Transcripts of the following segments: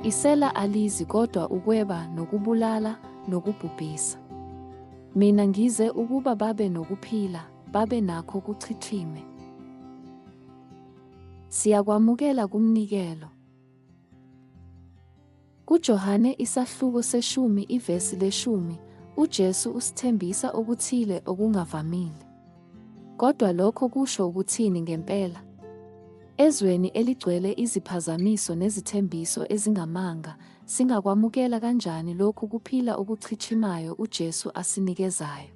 Isela alizi kodwa ukweba nokubulala nokubhubhisa. Mina ngize ukuba babe nokuphila, babe nakho kuchithime. Siyakwamukela kumnikelo. KuJohane isahluko seshumi ivesi leshumi, uJesu usithembisa okuthile okungavamile. Kodwa lokho kusho ukuthini ngempela? Ezweni eligcwele iziphazamiso nezithembiso ezingamanga, singakwamukela kanjani lokhu kuphila okuchichimayo uJesu asinikezayo?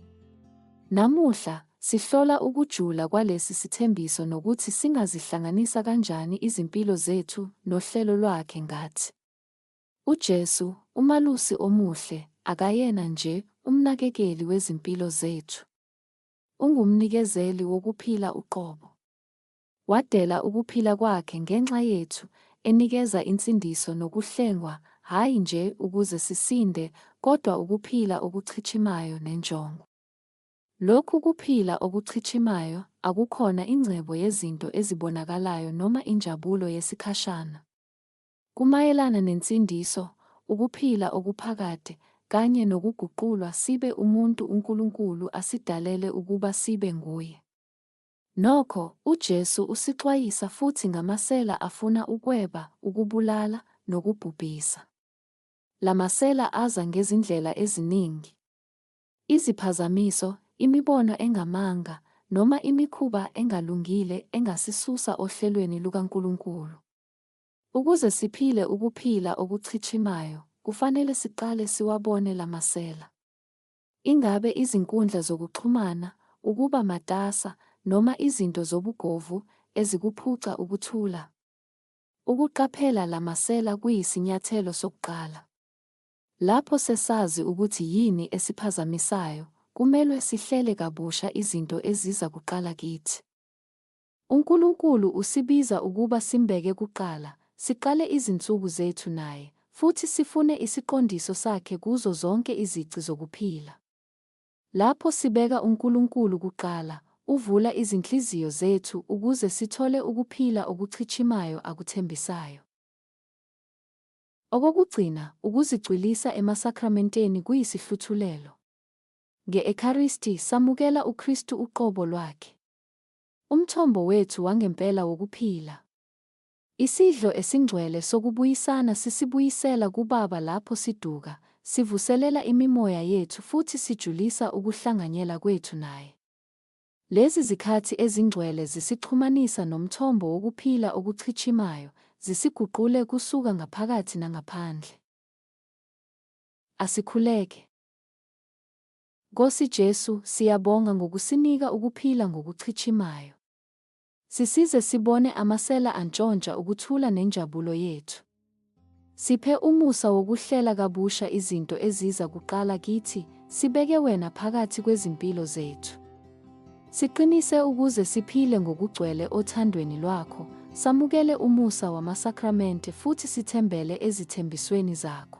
Namuhla, Sihlola ukujula kwalesi sithembiso nokuthi singazihlanganisa kanjani izimpilo zethu nohlelo lwakhe ngathi. UJesu, uMalusi Omuhle, akayena nje umnakekeli wezimpilo zethu. Ungumnikezeli wokuphila uqobo. Wadela ukuphila kwakhe ngenxa yethu, enikeza insindiso nokuhlengwa, hhayi nje ukuze sisinde, kodwa ukuphila okuchichimayo nenjongo. Lokhu kuphila okuchichimayo akukhona ingcebo yezinto ezibonakalayo noma injabulo yesikhashana. Kumayelana nensindiso, ukuphila okuphakade, kanye nokuguqulwa sibe umuntu uNkulunkulu asidalele ukuba sibe nguye. Nokho, uJesu usixwayisa futhi ngamasela afuna ukweba, ukubulala, nokubhubhisa. La masela aza ngezindlela eziningi. Iziphazamiso, imibono engamanga, noma imikhuba engalungile engasisusa ohlelweni lukaNkulunkulu. Ukuze siphile ukuphila okuchichimayo, kufanele siqale siwabone la masela. Ingabe izinkundla zokuxhumana, ukuba matasa, noma izinto zobugovu ezikuphuca ukuthula? Ukuqaphela la masela kuyisinyathelo sokuqala. Lapho sesazi ukuthi yini esiphazamisayo, kumelwe sihlele kabusha izinto eziza kuqala kithi. UNkulunkulu usibiza ukuba simbeke kuqala, siqale izinsuku zethu naye, futhi sifune isiqondiso sakhe kuzo zonke izici zokuphila. Lapho sibeka uNkulunkulu kuqala, uvula izinhliziyo zethu ukuze sithole ukuphila okuchichimayo akuthembisayo. Okokugcina, ukuzicwilisa emasakramenteni kuyisihluthulelo. Nge-Ekharisti, samukela uKristu uqobo lwakhe. Umthombo wethu wangempela wokuphila. Isidlo esingcwele sokubuyisana sisibuyisela kuBaba lapho siduka, sivuselela imimoya yethu futhi sijulisa ukuhlanganyela kwethu naye. Lezi zikhathi ezingcwele zisixhumanisa nomthombo wokuphila okuchichimayo, zisiguqule kusuka ngaphakathi nangaphandle. Asikhuleke. Nkosi Jesu, siyabonga ngokusinika ukuphila ngokuchichimayo. Sisize sibone amasela antshontsha ukuthula nenjabulo yethu. Siphe umusa wokuhlela kabusha izinto eziza kuqala kithi, sibeke wena phakathi kwezimpilo zethu. Siqinise ukuze siphile ngokugcwele othandweni lwakho, samukele umusa wamasakramente futhi sithembele ezithembisweni zakho.